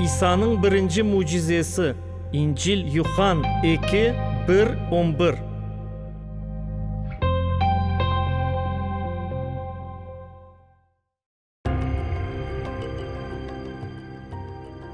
İsa'nıñ birinci mücizesi, İncil, Yuhann eki, bir, on bir.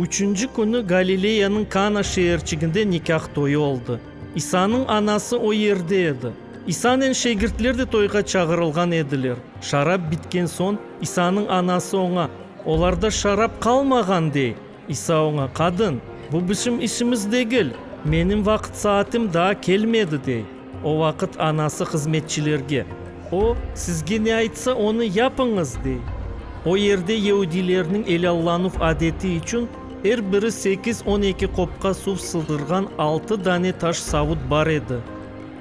Üçünci künü Galileyanıñ Kana şeerçiginde nikâh toyu oldı. İsa'nıñ anası o yerde edi. İsanen şegirtler de toyğa çağırılğan ediler. Şarap bitken soñ, İsanıñ anası oña, Olarda şarap qalmağan, dey. İsa oña, Qadın, bu bizim işimiz degil, menim vaqıt-saatim daa kelmedi, dey. O vaqıt anası hızmetçilerge, O, sizge ne aytsa, onı yapıñız, dey. O yerde yeudilerniñ elâllanuv adeti içün, er biri sekiz-on eki qopqa suv sığdırğan altı dane taş savut bar edi.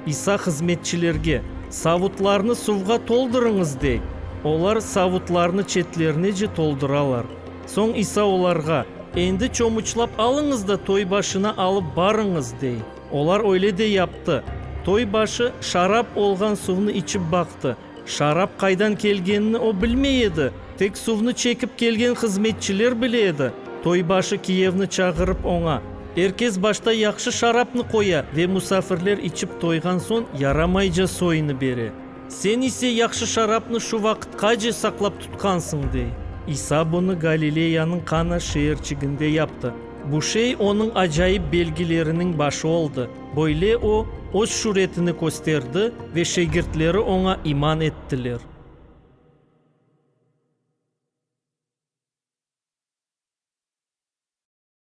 İsa hızmetçilerge, Savutlarnı suvğa toldurıñız, dey. Olar savutlarnı çetlerinece toldıralar. Soñ İsa olarğa, Endi çomuçlap alıñız da toy başına alıp barıñız, dey. Olar öyle de yaptı. Toy başı şarap olğan suvnı içip baqtı. Şarap qaydan kelgenini o bilmey edi, tek suvnı çekip kelgen hızmetçiler bile edi. Toybaşı kiyevni çağırıp oña, Er kes başta yahşı şarapnı qoya ve musafirler içip toyğan soñ yaramayca soyını bere. Sen ise yahşı şarapnı şu vaqıtqace saqlap tutqansıñ, dey. İsa bunı Galileyanıñ Kana şeerçiginde yaptı. Bu şey onıñ acayip belgileriniñ başı oldı. Böyle o, öz şüretini kösterdi ve şegirtleri oña iman ettiler.